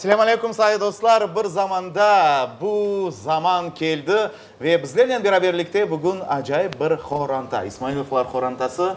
Selâmu alâykum, sayılı dostlar! Bir zamanda bu zaman keldi ve bizlernen beraberlikte bugün acayip bir qoranta, İsmailovlar qorantası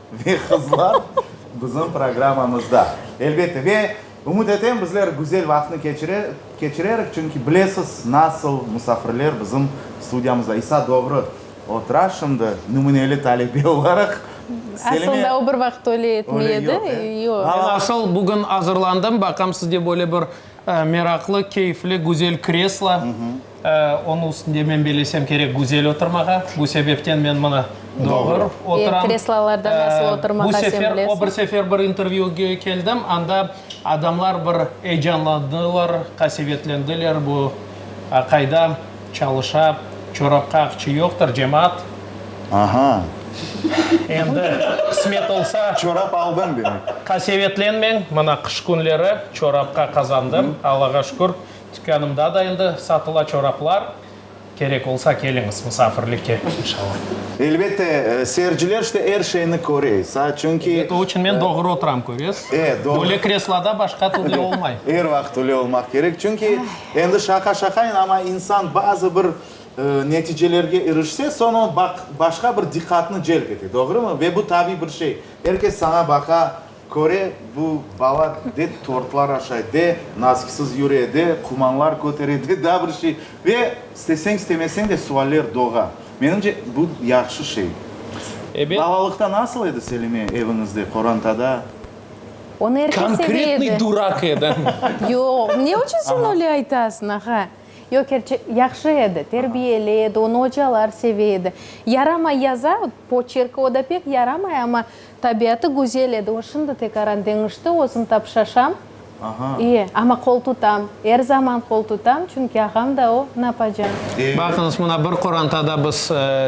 Ve qızlar bizim programmamızda, elbette. Ve ümüt etem, bizler güzel vaqıtnı keçirerik, çünki bilesiz, nasıl musafirler bizim studiyamızda. İsa doğru otura şimdi, nümüneli talebe olaraq. Selime. Aslında o bir vaqıt öyle etmey edi. Yoq, yoq. Asıl bugün azırlandım, baqam sizde böyle bir. Meraqlı, keyfli, güzel kreslo. Onıñ üstünde, men belesem kerek, güzel oturmağa. Bu sebepten men mına doğru oturam. Kreslolarda nasıl oturmağa sen bilesiñ? Bu sefer, o bir sefer bir intervyüge keldim, anda adamlar bir eyecanlandılar, qasevetlendiler, bu qayda. Çalışa, çorapqa aqçı yoqtır, cemaat. Aha! Endi qısmet olsa. Çorap aldın demek. Qasevetlenmeñ, mına qış künleri çorapqa qazandım, Allağa şükür, tükânımda da endi satıla çoraplar. Kerek olsa keliñiz musafirlikke, inşallah. Elbette, seyirciler işte er şeyni köre, saa, çünki. O içün men doğru oturam, köresiz. E, doğru. Böyle kresloda başqa türlü olmay. Er vaqıt öyle olmaq kerek, çünki. Endi şaqa-şaqayın, amma insan bazı bir neticelerge irişse, soñ o, baq, başqa bir diqqatnı celp ete, doğrumı? Ve bu tabiy bir şey. Er kes saña baqa, köre, bu bala de tortlar aşay, de nazkiksiz yüre, de qumanlar kötere, de daa bir şey. Ve isteseñ-istemeseñ de sualler doğa. Menimce, bu yahşı şey. Balalıqta nasıl edi, Selime, eviñizde, qorantada? Onı er kes seve edi. Konkretnıy durak edi. Yoq, ne içün sen öyle aytasıñ, ağa? Yoq, kerçek, yahşı edi, terbiyeli edi, onı ocalar seve edi. Yaramay yaza, poçerki o da pek yaramay, amma tabiatı güzel edi. O şimdi tekaran deñişti, özüm tapışaşam. İye, amma qol tutam, er zaman qol tutam, çünki ağam da o, napacan. Baqıñız, mına bir qorantada biz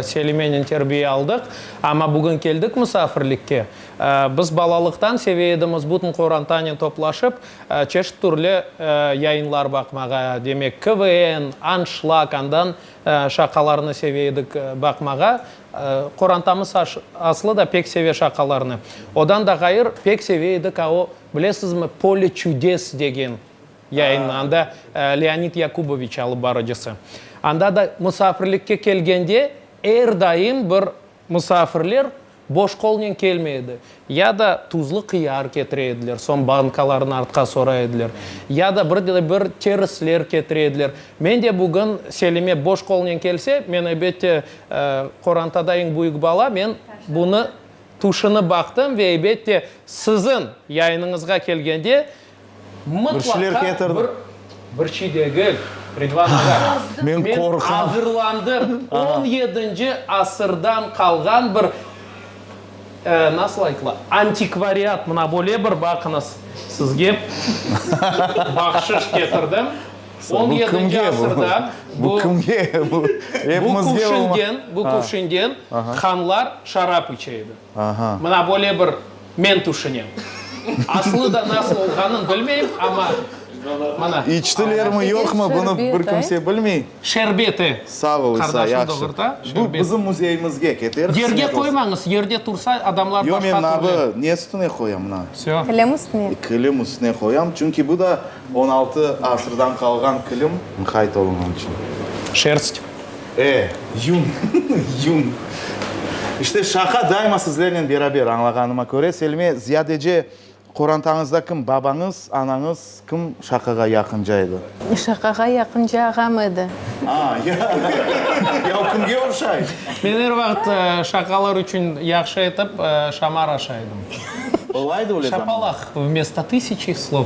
Selimenen terbiye aldıq, amma bugün keldik musafirlikke. Biz balalıqtan seve edimiz bütün qorantanen toplaşıp, çeşit türlü yayınlar baqmağa, demek, KVN, Anşlag, andan şaqalarnı seve edik baqmağa. Qorantamız aslı da pek seve şaqalarnı. Odan da ğayır, pek seve edik a o, bilesizmi, Polye çüdes degen yayınnı, anda Leonid Yakuboviç alıp barıcısı. Anda da musafirlikke kelgende er daim bir Musafirler boş qolnen kelmey edi, ya da tuzlı qıyar ketire ediler, soñ bankalarnı artqa soray ediler, ya da bir de bir terisler ketire ediler. Men de bugün Selime boş qolnen kelse, men, ebette, qorantada eñ büyük bala, men bunı tüşünip baqtım ve, ebette, siziñ yayınıñızğa kelgende, Bir şeyler ketirdim. Mıtlaqa bir, bir şey degil, reklamağa. Men qorqam. Men azırlandım. On yedinci asırdan qalğan bir, nasıl aytıla, antikvariat, mına böyle bir baqıñız, sizge bahşış ketirdim. On yedinci asırda bu, bu Kuvşingen, bu Kuvşingen hanlar şarap içe edi. Aha. Mına böyle bir men tüşünem. Aslı da nasıl olğanın bilmeyim, amma mına. İçtilermi, yoqmı, bunı bir kimse bilmey. Şerbet, e. Sağ ol, İsa, yahşı. Bu bizim müzeyimizge keter. Yerge qoymañız, yerde tursa adamlar başqa türlü. Yo, men mına, ne üstüne qoyam, mına? Kilim üstüne. Kilim üstüne qoyam, çünki bu da. On altı asırdan qalğan kilim. Mıhayt olunğan içün. Şerst. E, yun, yun. İşte şaqa daima sizlernen beraber, añlağanıma köre, Selime, ziyadece qorantañızda kim babañız, anañız, kim şaqağa yaqınca edi? Şaqağa yaqınca ağam edi. A, ya, ya o kimge oşay? Men er vaqıt şaqalar içün yahşı etip şamar aşaydım. Olaydı öyle zamanlar. Şapalaq vmesto tısıçı slov.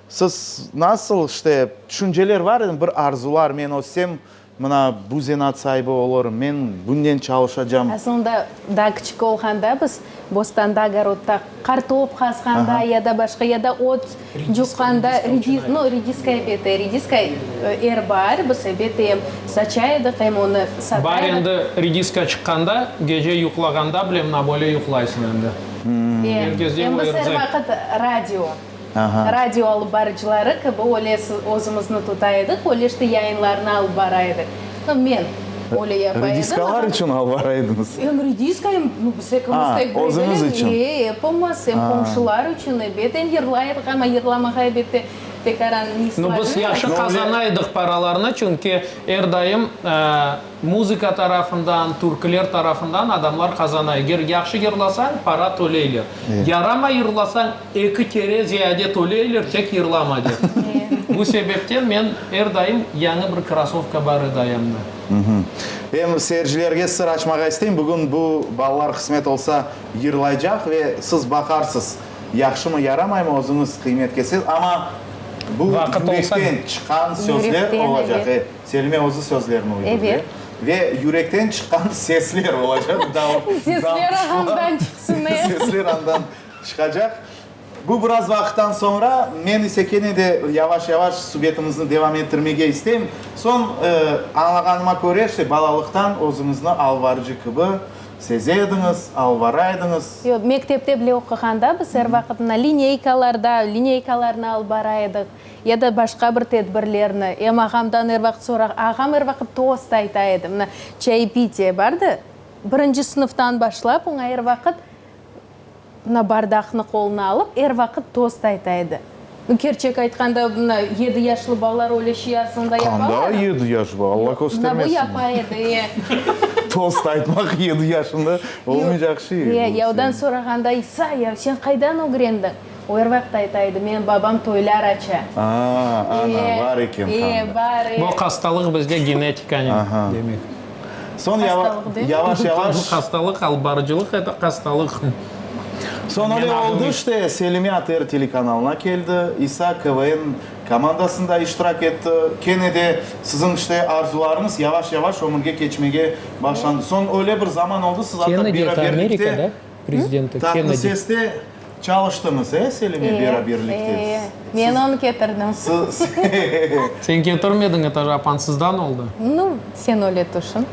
Siz nasıl, işte, tüşünceler bar endi, bir arzular, men össem, mına bu zenaat saibi olurım, men bunden çalışacam. Asılında, daa kiçik olğanda biz bostanda, ogorodda qartop qazğanda ya da başqa, ya da ot cuqqanda, no, rediska ebeti, rediska er baar biz ebeti em saça edik, em onı sata edik. Baar endi rediska çıqqanda, gece yuqlağanda bile mına böyle yuqlaysıñ endi. Em biz er vaqıt radio. Radio alıp barıcıları kibi öyle özümizni tuta edik, öyle işte yayınlarnı alıp bara edik. No men öyle yapa edim. Rediskalar içün alıp bara ediñiz? Em rediska, em biz ekimiz tek birbirnen. Özüñiz içün? Ee, epimiz, em qomşular içün, ebet, em yırlay edik, amma yırlamağa ebet de pek aran ne islâ. No biz yahşı qazana edik paralarnı, çünki er daim Muzıka tarafından, türküler tarafından adamlar qazana. Eger yahşı yırlasañ, para töleyler. Yaramay yırlasañ, eki kere ziyade töleyler, tek yırlama dep. Bu sebepten men er daim yañı bir krasovka bar edi ayamda. Em seyircilerge sır açmağa isteyim, bugün bu balalar qısmet olsa yırlaycaq ve siz baqarsız, yahşımı, yaramaymı, özüñiz qıymet ketsez, amma bu yürekten çıqqan sözler olacaq. Selime özü sözlerini uydurdı. Ve yürekten çıqqan sesler olacaq. Sesler ağandan çıqsın, e! Sesler andan çıqacaq. Bu biraz vaqıttan soñra, men ise kene de yavaş-yavaş subetimizni devam ettirmege isteyim. Soñ, añlağanıma köre, işte, balalıqtan özüñizni alvarcı kibi seze ediñiz, alvara ediñiz. Yoq, mektepte bile oquğanda biz er vaqıt mına lineykalarda, lineykalarnı alvara ediq. Ya da başqa bir tedbirlerni. Em ağamdan er vaqıt sorağa. Ağam er vaqıt tost ayta edi. Mına, çaypitiye bardı. Birinci sınıftan başlap, oña er vaqıt, mına, bardaqnı qoluna alıp, er vaqıt tost ayta edi. Kerçek aytqanda, mına, yedi yaşlı balalar öyle şey aslında yapalar. Qanda yedi yaş var, Alla köstermesin. Mına, bu yapa edi, e. Tost aytmaq yedi yaşında olmaycaq şey. Yavdan sorağanda, İsa, ya sen qaydan ögrendiñ? O er vaqıt ayta edi, Menim babam toylar aça. Aa, ana, bar eken qanda. Ee, bar, ee. Bu hastalıq bizde genetikanıñ demek. Soñ yavaş-yavaş. Hastalıq, alıp barıcılıq, eto hastalıq. Soñ öyle oldı işte, Selime ATR telekanalına keldi, İsa KVN komandasında iştirak etti. Kene de siziñ işte arzularıñız yavaş-yavaş ömürge keçmege başlandı. Soñ öyle bir zaman oldı, siz atta beraberlikte prezidenti Kennedi. Tatlı seste çalıştıñız, e, Selime beraberlikte? E, men onı ketirdim. Sen ketirmediñ, etaş apansızdan oldı. Nu, sen öyle tüşün.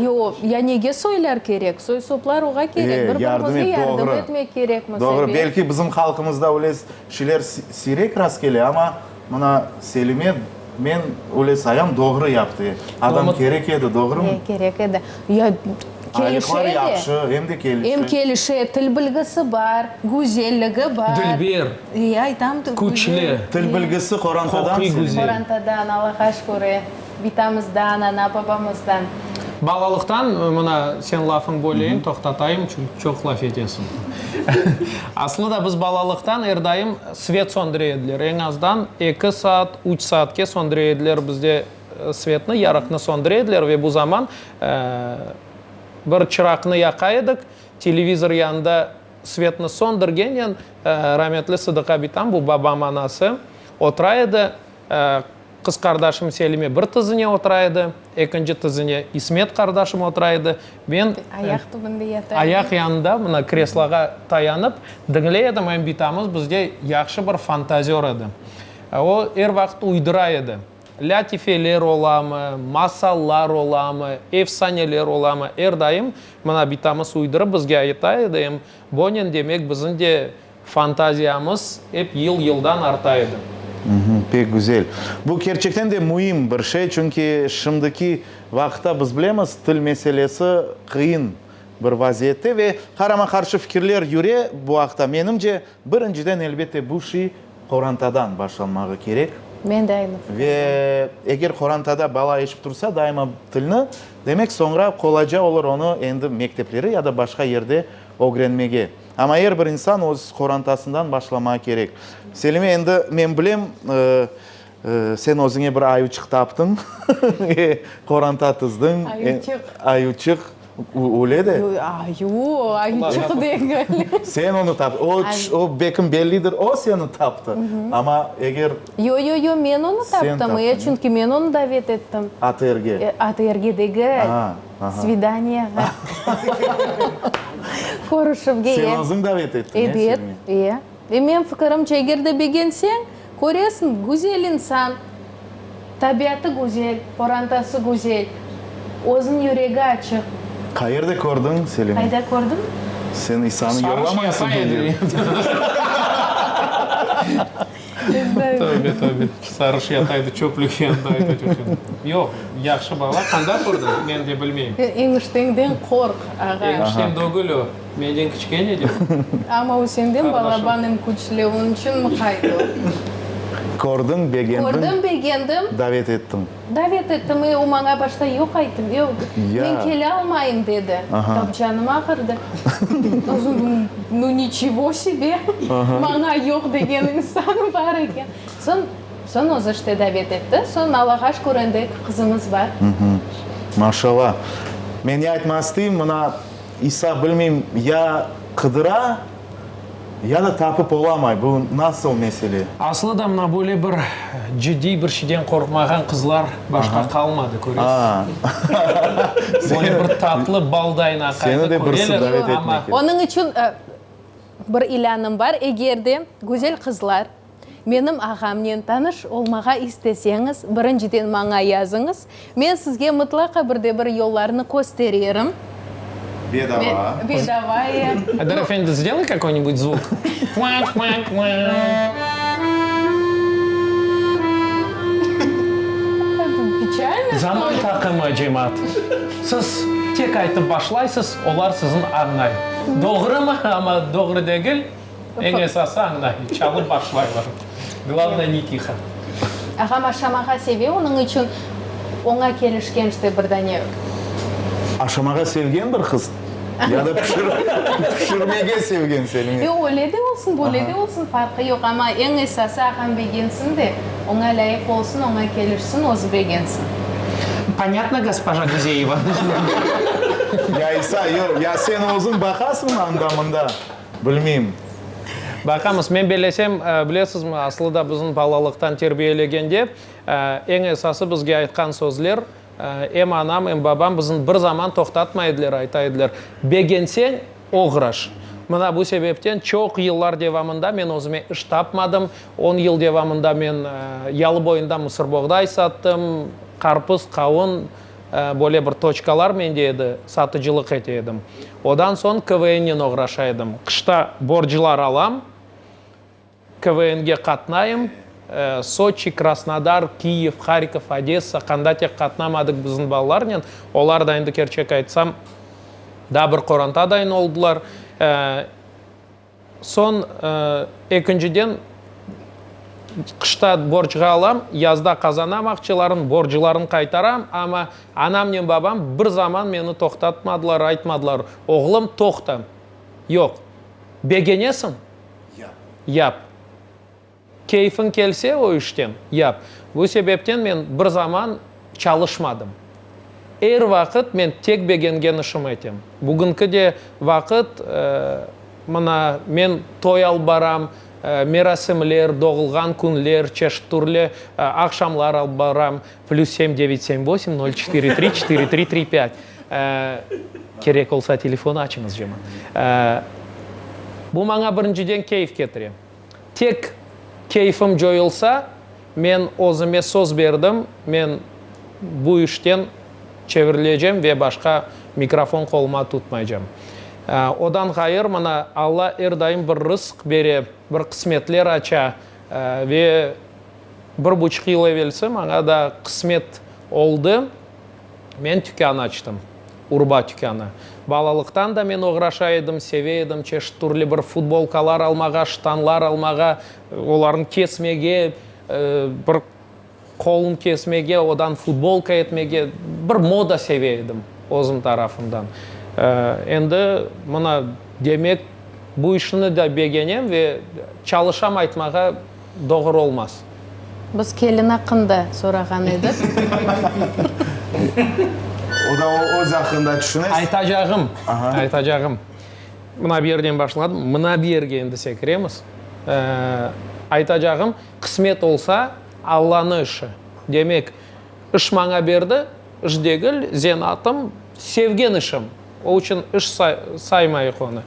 Yoq, ya nege soylar kerek? Soy-soplar oğa kerek, bir-birimizge yardım etmek kerekmiz. Doğru, belki bizim halqımızda öyle şeyler siyrek rastkele, amma Mına Selime, men öyle sayam, doğru yaptı. Adam kerek edi, doğrumı? He, kerek edi. Ya, kelişe de. Aylıqlar yahşı, em de kelişe. Em kelişe, til bilgisi bar, güzelligi bar. Dilber. Ya, aytam. Küçlü. Til bilgisi qorantadan. Qorantadan, Allaha şükür. Bitamızdan, ana-babamızdan. Balalıqtan, mına, sen lafıñ böleyim, toqtatayım, çünki çoq laf etesiñ. Aslı da biz balalıqtan er daim svet söndüre ediler, eñ azdan eki saat, üç saatke söndüre ediler bizde svetni, yarıqnı söndüre ediler ve bu zaman bir çıraqnı yaqa edik, televizor yanında svetni söndürgenen, rametli Sıdıqa bitam, bu babam anası, otura edi. Qız qardaşım Selime bir tizine otura edi, ekinci tizine İsmet qardaşım otura edi, men Ayaq tübünde yata edim. ayaq yanında, mına, kresloğa tayanıp, diñley edim. Em bitamız bizge yahşı bir fantazör edi. O, er vaqıt uydura edi. Lâtifeler olamı, masallar olamı, efsaneler olamı, er daim, mına, bitamız uydurıp bizge ayta edi. Em, Bonen, demek, biziñ de Fantaziyamız ep yıl-yıldan arta edi. Pek güzel. Bu kerçekten de müim bir şey, çünki şimdiki vaqıtta biz bilemiz, til meselesi qıyın bir vaziyette ve qarama-qarşı fikirler yüre bu aqta. Menimce, birinciden, elbette, bu şiy qorantadan başlanmağı kerek. Men de aynı fikirden. Ve eger qorantada bala eşip tursa daima tilni, demek, soñra qolayca olur onı endi mektepleri ya da başqa yerde ögrenmege. Amma er bir insan öz qorantasından başlamağı kerek. Selime, endi men bilem, sen özüñe bir ayuçıq taptıñ ve qoranta tizdiñ. Ayuçıq. Ayuçıq, öyle de. Ayu, ayuçıq degil. Sen onı taptıñ. O, o bekim bellidir, o seni taptı. Amma eger. Yo, yo, yo, men onı taptım. Sen taptıñ. Çünki men onı davet ettim. ATRge. ATRge degil. Aa. Svidaniyağa. Körüşüvge. Sen özüñ davet ettiñ, ya, Selmi? Ebet, e. Menim fikirimce, eger de begenseñ, köresiñ, güzel insan, tabiatı güzel, qorantası güzel, özüniñ yüregi açıq. Qayerde kördiñ, Selmi? Qayda kördim? Sen İsanı yollamaysıñ, ya, Selmi? Tövbe, tövbe. Sarış yataydı çöplük yanında aytaç oçun. Yoq, yahşı bala. Qanda kördi? Men de bilmeyim. Sen eñişteñden qorq, ağa. Eñiştem dögül o. Menden kiçkene de o. Amma o senden balaban em küçlü, onıñ içün mıqaydı o. Kördiñ, begendiñ. Kördiñ, begendim. Davet ettiñ. Davet ettim, e, o maña başta yoq ayttım, yoq, men kele almayım, dedi. Tapcanım ağırdı. Nu, niçego sebe, maña yoq degen insan bar eken. Soñ, soñ özü işte davet etti. Soñ Allağa şükür, endi eki qızımız bar. Maşalâ. Men ne aytmaq isteyim, mına, İsa, bilmeyim, ya qıdıra, Ya da tapıp olamay, bu nasıl mesele? Aslı da mına böyle bir ciddiy bir şeyden qorqmağan qızlar başqa qalmadı, köresiz. Böyle bir tatlı baldayın aqayını köreler, amma. Onıñ içün bir ilânım bar, eger de güzel qızlar. Menim ağamnen tanış olmağa isteseñiz, birinciden maña yazıñız, men sizge mıtlaqa bir de bir yollarnı köstererim. Bedava. Bedava, ya. Eldar efendi, zdelay kakoy-nibut zvuk. Quank, quank, quank. Pichalnoy, ştoli? Zaman taqımı, cemaat. Siz tek aytıp başlaysız, olar sizin añlay. Doğrumı? Amma doğru degil. Eñ esası añday, çalıp başlaylar. Glavnoye, ne tiho. Ağam aşamağa seve, onıñ içün oña kelişken işte bir dane. Aşamağa sevgen bir qız? Ya da pişirmege sevgen Selime? Yoq, öyle de olsun, böyle de olsun, farqı yoq, amma eñ esası ağam begensin de, oña lâyıq olsun, oña kelişsin, özü begensin. Ponyatno, gospoja Guzeyeva. Ya İsa, yoq, ya sen özüñ baqasıñmı anda-mında? Bilmeyim. Baqamız. Men bellesem, bilesizmi, aslı da bizni balalıqtan terbiyelegende, eñ esası bizge aytqan sözler, em anam, em babam bizni bir zaman toqtatmay ediler, ayta ediler, Begenseñ, oğraş. Mına bu sebepten çoq yıllar devamında men özüme iş tapmadım. On yıl devamında men Yalıboyunda mısırboğday sattım, qarpız, qavun. Böyle bir toçkalar mende edi, satıcılıq ete edim. Odan soñ KVNnen oğraşa edim. Qışta borclar alam, KVNge qatnayım. Soçi, Krasnodar, Kyiv, Harkov, Odessa, qanda tek qatnamadıq bizim balalarnen. Olar da endi kerçek aytsam, daa bir qorantaday oldılar. Soñ, ekinciden, qışta borcğa alam, yazda qazanam aqçalarnı, borclarnı qaytaram. Amma anamnen babam bir zaman meni toqtatmadılar, aytmadılar, Oğlum, toqta, yoq. Begenesiñ, yap. Keyfiñ kelse o işten, yap. Bu sebepten men bir zaman çalışmadım. Er vaqıt men tek begengen işim etem. Bugünki de vaqıt, mına, men toy alıp baram, merasimler, doğulğan künler, çeşit-türlü aqşamlar alıp baram. Plüs sem devet sem vosim nol çetiri tri çetiri tri tri pât. Kerek olsa telefon açıñız, Cemal. Bu maña birinciden keyf ketire. Tek keyfim coyulsa, men özüme söz berdim, men bu işten çevirilecem ve başqa mikrofon qoluma tutmaycam. Odan ğayır, mına, Alla er daim bir rızq bere, bir qısmetler aça ve bir buçuq yıl evelsi maña da qısmet oldı. Men tükân açtım. Urba tükânı. Balalıqtan da men oğraşa edim, seve edim çeşit türlü bir futbolkalar almağa, ştanlar almağa, olarnı kesmege, bir qolun kesmege, odan futbolka etmege, bir moda seve edim özüm tarafımdan. Endi mına demek bu işni de begenem ve çalışam aytmağa. Doğru olmaz. Biz kelin aqqında sorağan edik. O da öz aqqında tüşünes. Aytacağım, aytacağım. Mına bu yerden başladım, mına bu yerge endi sekiremiz. Aytacağım, qısmet olsa, Allanı işi. Demek, iş maña berdi, iş degil, zenatım, sevgen işim. O içün iş saymayıq onı.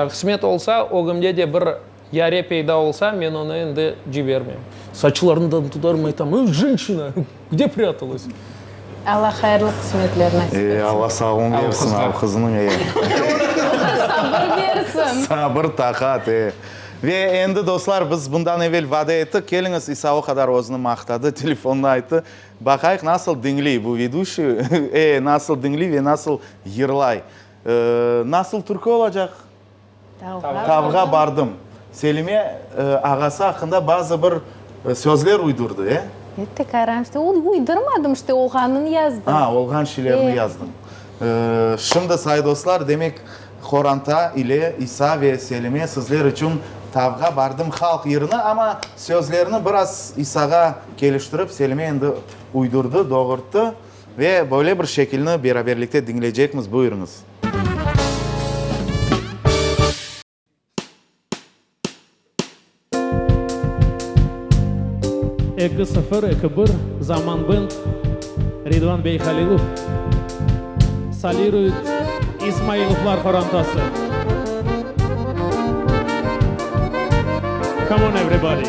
Qısmet olsa, ögümde de bir Yare peyda olsa, men onı endi cibermem. Saçlarından tutarım, aytam, I, jenşina! Kde prâtalась? Alla hayırlı qısmetler nasip etsin. E, Alla sağlığın bersin, al qızınıñ, e. Sabır bersin. Sabır, taqat, e. Ve endi, dostlar, biz bundan evel vade ettik, keliñiz, İsa o qadar özüni maqtadı, telefonda ayttı, baqayıq, nasıl diñley bu veduşiy, e, nasıl diñley ve nasıl yırlay. Nasıl türkü olacaq? Tavğa bardım. Selime ağası aqqında bazı bir sözler uydurdı, e? Etti, qaran işte, onu uydurmadım işte, olğanını yazdım. A, olğan şeylerini yazdım. Şimdi, say dostlar, demek, qoranta ile İsa ve Selime sizler içün Tavğa bardım halq yırını, amma sözlerini biraz İsağa keliştirip, Selime endi uydurdı, doğurttı ve böyle bir şekilni beraberlikte diñleycekmiz, buyurıñız. Eki sıfır eki bir Zaman band Ridvan bey Halilov soliruyıt İsmailovlar qorantası Come on everybody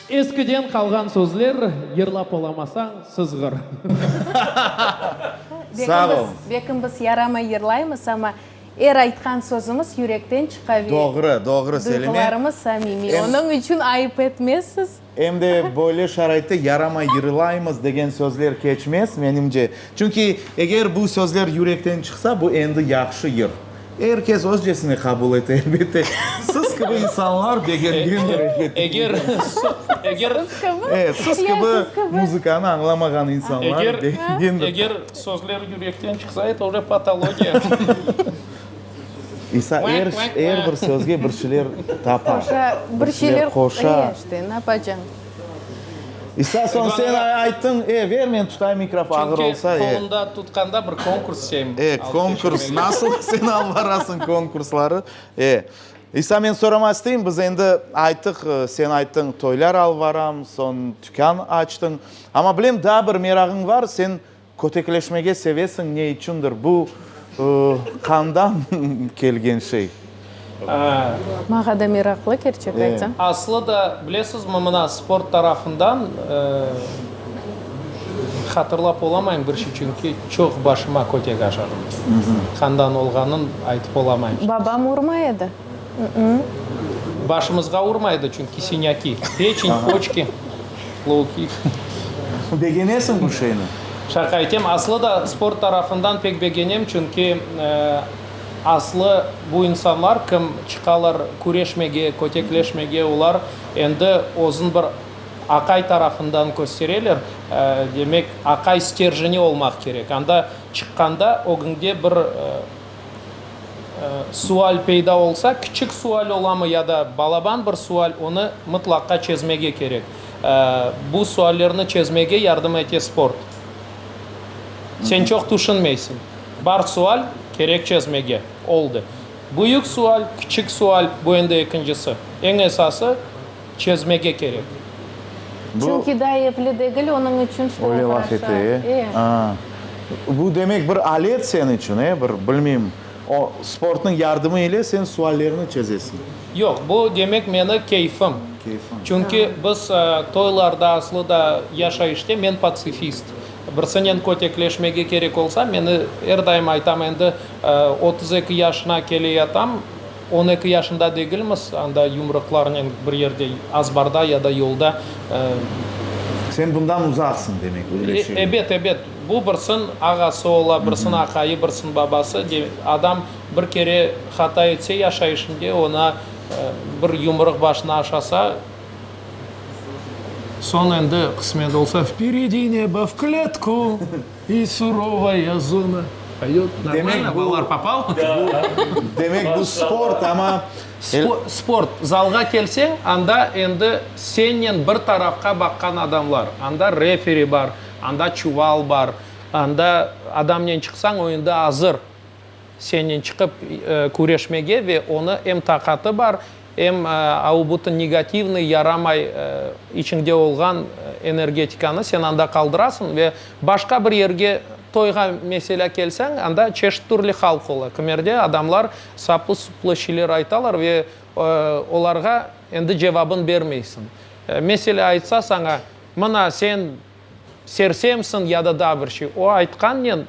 Eskiden qalğan sözler, yırlap olamasañ, sızğır. Sağ ol. Bekimiz yaramay yırlaymız, amma er aytqan sözümiz yürekten çıqa ve Doğru, doğru, Selime. duyğularımız samimiy. Em- Onıñ içün ayıp etmezsiz. Em de böyle şaraitte yaramay yırlaymız degen sözler keçmez, menimce. Çünki eger bu sözler yürekten çıqsa, bu endi yahşı yır. Er kes özcesine qabul ete, elbette. Siz kibi insanlar begengen rehbet. Eger, eger. Siz kibi? E, siz kibi muzıkanı añlamağan insanlar. Eger, eger sözler yürekten çıqsa, eto oje patologiya. İsa er, er bir sözge bir şeyler tapa. Qoşa, bir şeyler qoşa. E, işte, napacañ. İsa soñ sen ayttıñ, e, ver men tutay mikrofon, ağır olsa, e. Çünki qolumda tutqanda bir konkurs şeyim. E, konkurs, nasıl sen alıp barasıñ konkursları, e. İsa, men soramaq isteyim, biz endi ayttıq, sen ayttıñ, toylar alıp baram, soñ tükân açtıñ. Amma bilem, daa bir merağıñ bar, sen Kötekleşmege sevesiñ, ne içündir, bu qandan kelgen şey. Maña da meraqlı, kerçek aytsam. Aslı da, bilesizmi, mına sport tarafından hatırlap olamayım, bir şey, çünki çoq başıma kötek aşadım. Qandan olğanın aytıp olamayım. Babam urmay edi. Başımızğa urmaydı, çünki siñaki, peçin, poçki, loukit. Begenesiñ bu şeyni? Şaqa etem. Aslı da sport tarafından pek begenem, çünki aslı bu insanlar, kim çıqalar küreşmege, kötekleşmege, olar endi özün bir aqay tarafından köstereler. Demek, aqay sterjeni olmaq kerek. Anda çıqqanda ögüñde bir Sual peyda olsa, kiçik sual olamı ya da balaban bir sual, onı mıtlaqqa çezmege kerek. Bu suallerni çezmege yardım ete sport. Sen çoq tüşünmeysiñ. Bar sual, kerek çezmege. Oldı. Büyük sual, kiçik sual, bu endi ekincisi. Eñ esası, Çezmege kerek. Çünki daa epli degil, onıñ içün şıta oğraşa. Öyle laf ete, e? Aa. Bu demek bir alet sen içün, e? Bir, bilmeyim, o sportnıñ yardımı ile sen suallerni çezesiñ. Yoq, bu demek meni keyfim. Keyfim. Çünki biz toylarda, aslı da yaşayışta men patsifist. Birsinen kötekleşmege kerek olsa, meni er daim aytam, endi otuz eki yaşına keleyatam, On eki yaşında degilmiz, anda yumruqlarnen bir yerde, azbarda ya da yolda, e. Sen bundan uzaqsıñ, demek, öyle şey. Ebet, ebet. Bu birsin ağası ola, birsin aqayı, birsin babası. Adam bir kere hata etse yaşayışında, oña bir yumruq başına aşasa, soñ endi qısmet olsa. Vperedi nebo, v kletku! İ, surovaya zona. Poyot normalno, balalar popal. Demek bu sport, amma el. Sport, zalğa kelseñ, anda endi sennen bir tarafqa baqqan adamlar. Anda referi bar, anda çuval bar, anda adamnen çıqsañ, o endi azır sennen çıqıp küreşmege ve onı em taqatı bar, Em aubutın negativnıy, yaramay, içiñde olğan energetikanı sen anda qaldırasıñ ve başqa bir yerge toyğa meselâ kelseñ, anda çeşit türlü halq ola. Kmerde adamlar saplı-suplı şeyler aytalar ve olarğa endi cevabın bermeysiñ. Meselâ aytsa saña, Mına sen, Sersemsiñ ya da daa bir şey. O aytqannen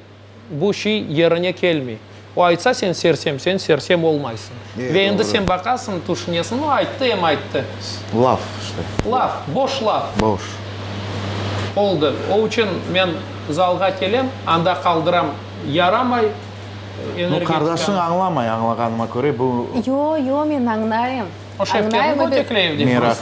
bu şey yerine kelmey. O aytsa, sen sersem, sen sersem olmaysıñ. Ve endi sen baqasıñ, tüşünesiñ, o ayttı, em ayttı. Laf işte. Laf, boş laf. Boş. Oldı. O içün men zalğa kelem, anda qaldıram, yaramay energetikam. No, qardaşıñ añlamay, añlağanıma köre bu. Yo, yo, men añlayım. O şefketni kötekleyev dep. Meraq.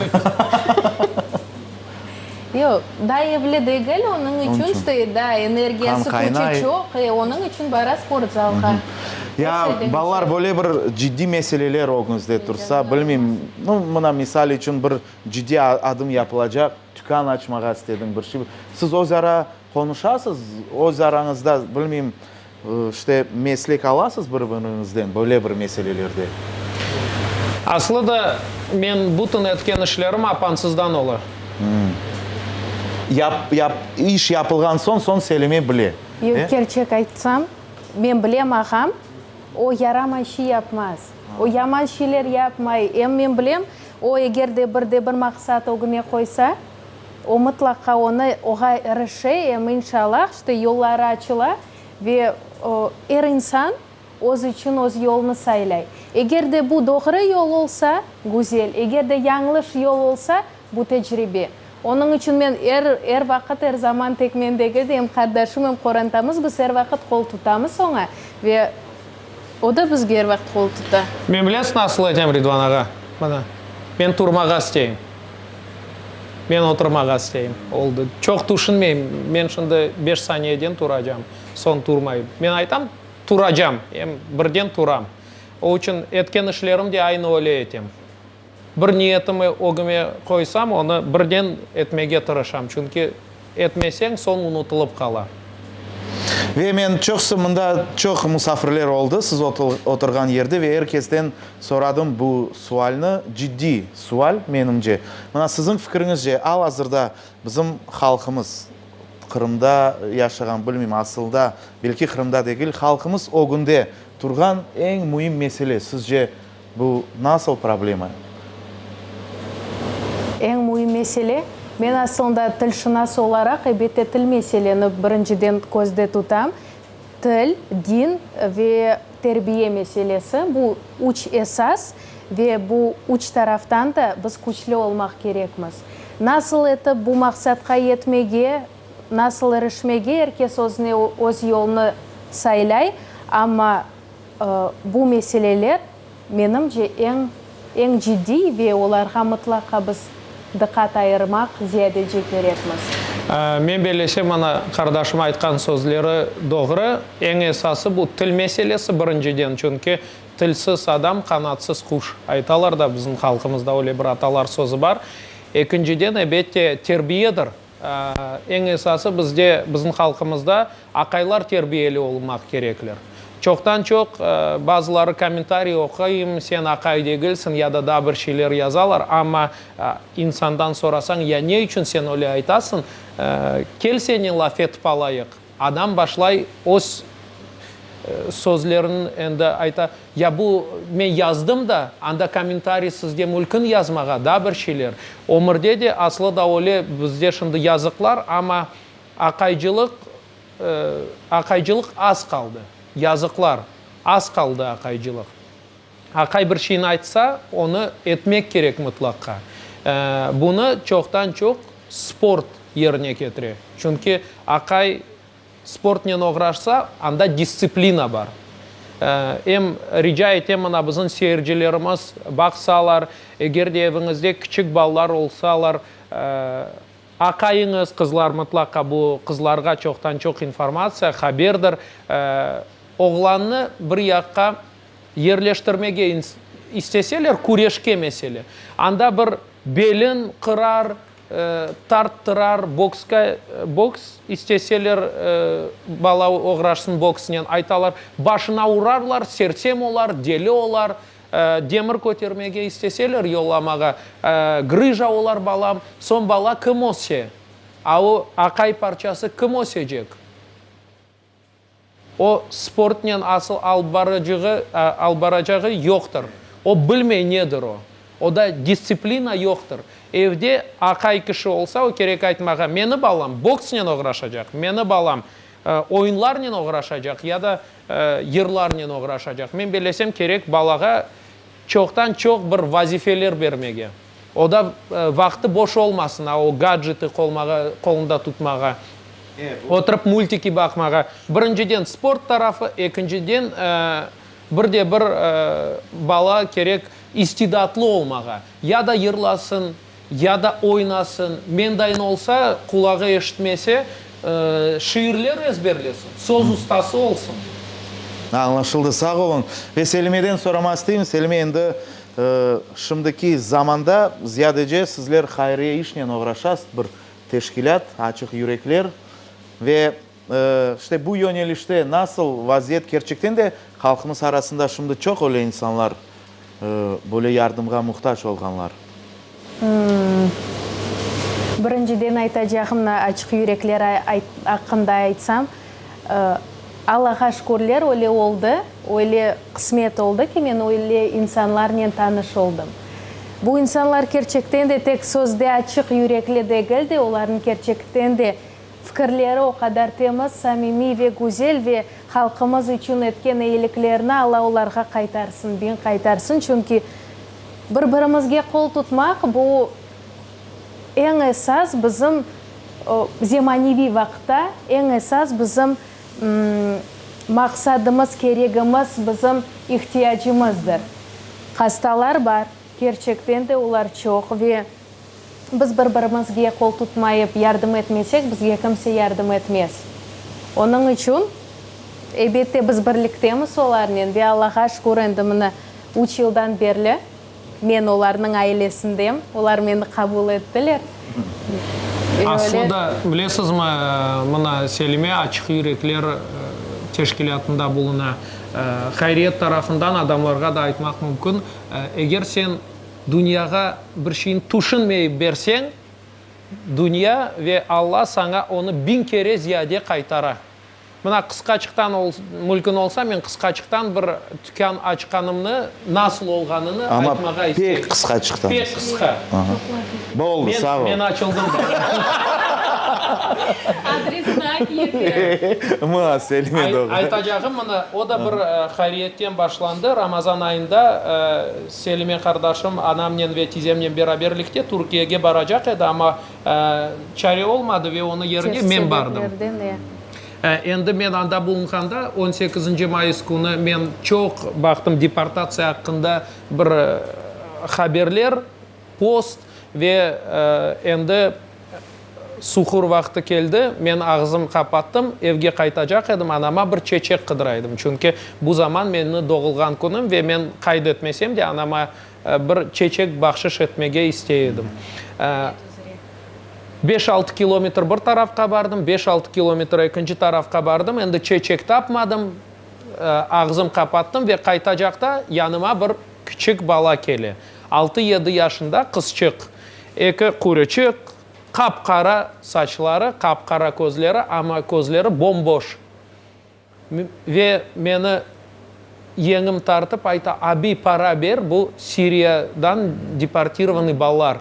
Yoq, daa evli degil, onıñ içün işte daa energiya sıpıcı çoq, e, onıñ içün bara sportzalğa. Ya, balalar, böyle bir ciddiy meseleler ögüñizde tursa, bilmeyim, nu, mına, misal içün, bir ciddiy adım yapılacaq, tükân açmağa istedim, bir şey, siz öz ara Qonuşasız öz arañızda, bilmeyim, işte, meslek alasız bir-biriñizden böyle bir meselelerde? Aslı da, men bütün etken işlerim apansızdan ola. Yap, yap, iş yapılğan soñ, soñ söylemey bile, e? Kerçek aytsam, men bilem, ağam, o yaramay şey yapmaz. O yaman şeyler yapmay. Em men bilem, o eger de bir de bir maqsat ögüne qoysa. O mıtlaqa onı oğa erişe em inşallah işte yolları açıla ve er insan öz içün öz yolnı saylay. Eger de bu doğru yol olsa, güzel, eger de yañlış yol olsa, bu tecribe. Onıñ içün men er er vaqıt er zaman tek mendegi de em qardaşım em qorantamız biz er vaqıt qol tutamız oña ve. O da bizge er vaqıt qol tuta. Men bilesiz nasıl etem, Ridvan ağa? Mana, men turmağa isteyim. Men oturmağa isteyim. Oldı. Çoq tüşünmeyim. Men şimdi beş saniyeden turacam, soñ turmayım. Men aytam, turacam, em birden turam. O içün etken işlerim de aynı öyle etem. Bir niyetimi ögüme qoysam, onı birden etmege tırışam, çünki etmeseñ, soñ unutılıp qala. Ve men çoqusı mında çoq musafirler oldı, siz oturğan yerde, ve er kesten soradım bu sualni, ciddiy sual, menimce. Mına, siziñ fikiriñizce, al-azırda bizim halqımız, Qırımda yaşağan, bilmeyim, asılda, belki Qırımda degil, halqımız ögünde turğan eñ müim mesele, sizce, Bu nasıl problema? Eñ müim mesele, men aslında tilşınas olaraq, elbette, til meseleni birinciden közde tutam, til, din ve terbiye meselesi, bu üç esas ve bu üç taraftan da biz küçlü olmaq kerekmiz. Nasıl etip bu maqsatqa yetmege, nasıl irişmege, er kes özüne öz yolnı saylay, amma. Bu meseleler, menimce, eñ, eñ ciddiy ve olarğa mıtlaqa biz diqqat ayırmaq ziyadece kerekmiz. Men belleşem, mana, qardaşım aytqan sözleri doğru. Eñ esası, bu til meselesi, birinciden, çünki tilsiz adam, qanatsız quş, aytalar da, bizim halqımızda öyle bir atalar sözü bar. Ekinciden, ebette, terbiyedir. Eñ esası bizde, bizim halqımızda aqaylar terbiyeli olmaq kerekler. Çoqtan-çoq bazıları kommentariy oquyım, sen aqay degilsiñ ya da daa bir şeyler yazalar, amma insandan sorasañ, ya ne içün sen öyle aytasıñ, kel seni laf etip alayıq. Adam başlay öz sözlerin endi ayta, ya bu men yazdım da, anda kommentariy sizge mülkün yazmağa, daa bir şeyler. Ömürde de aslı da öyle, bizde şimdi yazıqlar, amma aqaycılıq, aqaycılıq az qaldı. Yazıqlar, az qaldı aqaycılıq. Aqay bir şeyni aytsa, onı etmek kerek mıtlaqqa. Bunı çoqtan çoq sport yerine ketire. Çünki aqay sportnen oğraşsa, anda distsiplina bar. Em rica etem, mına bizim seyircilerimiz baqsalar, eger de eviñizde kiçik balalar olsalar, aqayıñız, qızlar mıtlaqqa, bu qızlarğa çoqtan çoq informatsiya, haberdir, oğlannı bir yaqqa yerleştirmege isteseler, küreşke mesele. Anda bir belin qırar, tarttırar, bokska, boks isteseler, bala oğraşsın boksnen, aytalar, başına urarlar, sersem olar, deli olar, demir kötermege isteseler, yollamağa, grıja olar balam, soñ bala kim össe, a o aqay parçası kim ösecek? O sportnen asıl alıp barıcığı, alıp baracağı yoqtır. O bilmey nedir o. Oda distsiplina yoqtır. Evde aqay kişi olsa, o kerek aytmağa, meni balam boksnen oğraşacaq, meni balam oyunlarnen oğraşacaq ya da yırlarnen oğraşacaq. Men belesem, kerek balağa çoqtan-çoq bir vazifeler bermege. O da vaqtı boş olmasın, a o gadjeti qolmağa, qolunda tutmağa, oturıp multiki baqmağa. Birinciden sport tarafı, ekinciden bir de bir bala kerek istidatlı olmağa. Ya da yırlasın, ya da oynasın, mendayin olsa, qulağı eşitmese, şiirler ezberlesin, söz ustası olsun. Añlaşıldı, sağ oluñ. Ve Selimeden soramaq isteyim, Selime endi Şimdiki zamanda ziyadece sizler hayriye işnen oğraşasız, bir teşkilât, açıq yürekler. Ve işte bu yönelişte nasıl vaziyet? Kerçekten de halqımız arasında şimdi çoq öyle insanlar, böyle yardımğa muhtac olğanlar. Birinciden aytacağımnı açıq yürekler aqqında aytsam, Allağa şükürler, öyle oldı, öyle qısmet oldı ki, men öyle insanlarnen tanış oldım. Bu insanlar kerçekten de tek sözde açıq yürekli degil de, olarnıñ kerçekten de fikirleri o qadar temiz, samimiy ve güzel ve halqımız içün etken eyiliklerini Alla olarğa qaytarsın, biñ qaytarsın, çünki Bir-birimizge qol tutmaq, bu, eñ esas bizim zemaneviy vaqıtta, eñ esas bizim maqsadımız, keregimiz, bizim ihtiyacımızdır. Hastalar bar, kerçekten de olar çoq ve. Biz bir-birimizge qol tutmayıp yardım etmesek, bizge kimse yardım etmez. Onıñ içün, elbette, biz birliktemiz olarnen ve Allağa şükür, endi mına üç yıldan berli men olarnıñ ailesindem, olar meni qabul ettiler. Ve öyle. Aslında, bilesizmi, mına Selime Açıq yürekler teşkilâtında buluna. Hayriyet tarafından adamlarğa da aytmaq mümkün, eger sen Dünyağa bir şeyni tüşünmeyip berseñ, dünya ve Alla saña onı biñ kere ziyade qaytara. Mına, qısqaçıqtan mülkün olsa, men qısqaçıqtan bir tükân açqanımnı, nasıl olğanını aytmağa isteyim. Amma pek qısqaçıqtan. Pek qısqa. Boldı, sağ ol. Men açıldım da. Adresini ayt yeke. Mı, Selime, doğru. Aytacağım mına, o da bir hariyetten başlandı. Ramazan ayında Selime qardaşım, anamnen ve tizemnen beraberlikte Türkiyege baracaq edi, amma çare olmadı ve onı yerine men bardım. Endi men anda bulunğanda, on sekizinci mayıs künü men çoq baqtım deportatsiya aqqında bir haberler. Post, Ve endi suhur vaqtı keldi. Men ağzım qapattım. Evge qaytacaq edim, anama bir çeçek qıdıra edim. Çünki bu zaman menni doğulğan künüm ve men qayd etmesem de anama bir çeçek bahşış etmege istey edim. Beş-altı kilometr bir tarafqa bardım, beş-altı kilometr ekinci tarafqa bardım. Endi çeçek tapmadım. Ağzım qapattım ve qaytacaqta yanıma bir küçük bala kele. Altı-yedi yaşında qızçıq, eki qurıçıq, qap-qara saçları, qap-qara közleri, amma közleri bom-boş. Ve meni yeñim tartıp ayta, Abi, para ber, bu Siriyadan deportirovanıy balalar.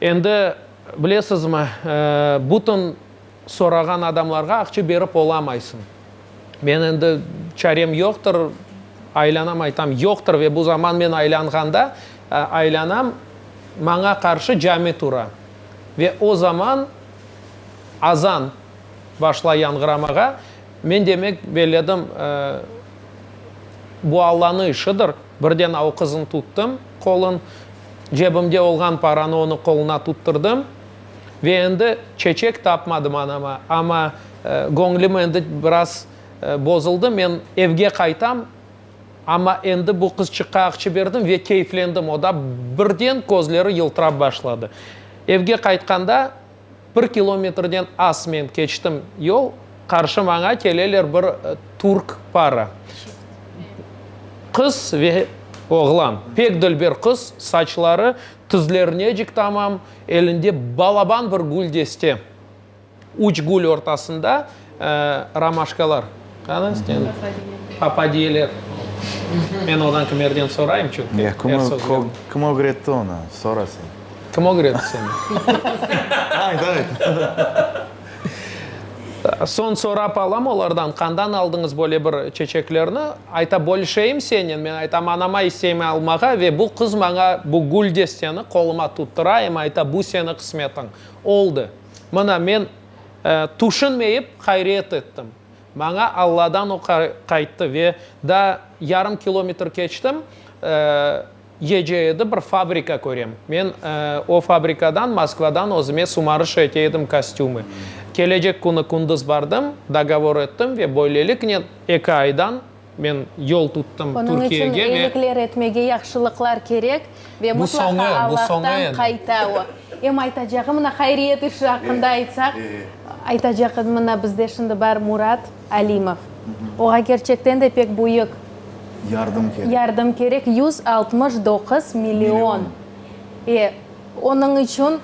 Endi, bilesizmi, bütün. Sorağan adamlarğa aqça berip olamaysıñ. Men endi çarem yoqtır, aylanam aytam, yoqtır ve bu zaman men aylanğanda, aylanam, maña qarşı cami tura. Ve o zaman azan başlay yanğıramağa, men demek belledim, bu Allanıñ işidir, birden o qıznı tuttum qolun, cebimde olğan paranı onıñ qoluna tuttırdım. Ve endi çeçek tapmadım anama, amma göñlüm endi biraz bozuldı. Men evge qaytam, amma endi bu qızçıqqa aqçı berdim ve keyflendim. O da birden közleri yıltırap başladı. Evge qaytqanda bir kilometrden az men keçtim yol, qarşı maña keleler bir türk para. Qız ve oğlan, pek dülber qız, saçları Tizleri necik tamam, elinde balaban bir gül deste. Üç gül ortasında romaşkalar. Qani sen? Papadiyeler. Men odan kimerden sorayım, çünki er sözlerini. Kim ögretti onı? Sora sen. Kim ögretti seni? Ayt, ayt. Soñ sorap alam olardan, qandan aldıñız böyle bir çeçeklerni? Ayta, bölüşeyim senen. Men aytam, anama isteymen almağa ve bu qız maña bu gül desteni qoluma tuttura em ayta, bu seni qısmetiñ. Oldı. Mına, men tüşünmeyip ğayriyet ettim. Maña Alladan o qayttı ve daa yarım kilometr keçtim. Gece edi, bir fabrika körem. Men o fabrikadan, Moskvadan özüme sumarış ete edim kostümı. Kelecek künü kündüz bardım, dogovor ettim ve böyleliknen eki aydan men yol tuttım Onıñ içün Türkiyege ve eyilikler etmege yahşılıqlar kerek ve Bu soñı, mıtlaqa bu soñı Allahtan edi. qayta o. Em aytacağım, mına hayriyet işi aqqında aytsaq, aytacaq edim, mına bizde şimdi bar Murat. Alimov. Oğa kerçekten de pek büyük. Yardım kerek. Yardım kerek, yüz altmış doquz million. E, onıñ içün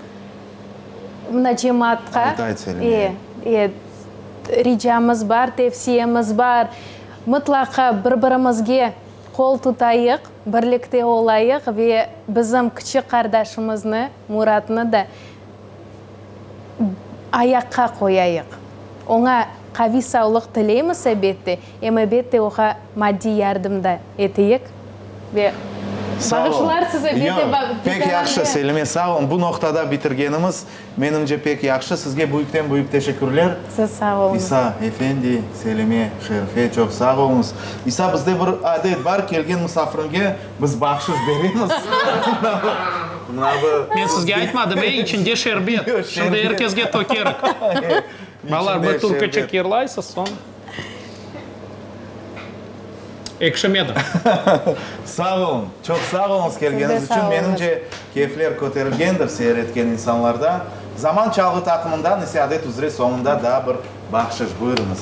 mına cemaatqa. Ayta etelim. E, e, ricamız bar, tevsiyemiz bar, mıtlaqa bir-birimizge qol tutayıq, birlikte olayıq ve bizim kiçik qardaşımıznı, Muratnı da ayaqqa qoyayıq. Oña qaviy savlıq tileymiz, ebette, em, ebette, oğa maddiy yardım da eteyik. Ve bağışlarsız, ebette, ba. Pek yahşı, Selime, sağ olun. Bu noqtada bitirgenimiz, menimce, pek yahşı. Sizge büyükten-büyük teşekkürler. Siz sağ oluñız. İsa efendi, Selime, Şerife, çoq sağ oluñız. İsa, bizde bir adet bar, kelgen musafiriñge. Biz bahşış beremiz. Men sizge aytmadım, e, içinde şerbet. Şimdi er kesge tökerik. Balalar, bir turkaçıq yırlaysız, soñ. Ekşimedi. Sağ oluñ, çoq sağ oluñız kelgeniñiz içün. Menimce, keyfler köterilgendir seyir etken insanlarda. Zaman çalğı taqımından ise adet üzre soñunda daa bir bahşış. Buyurıñız.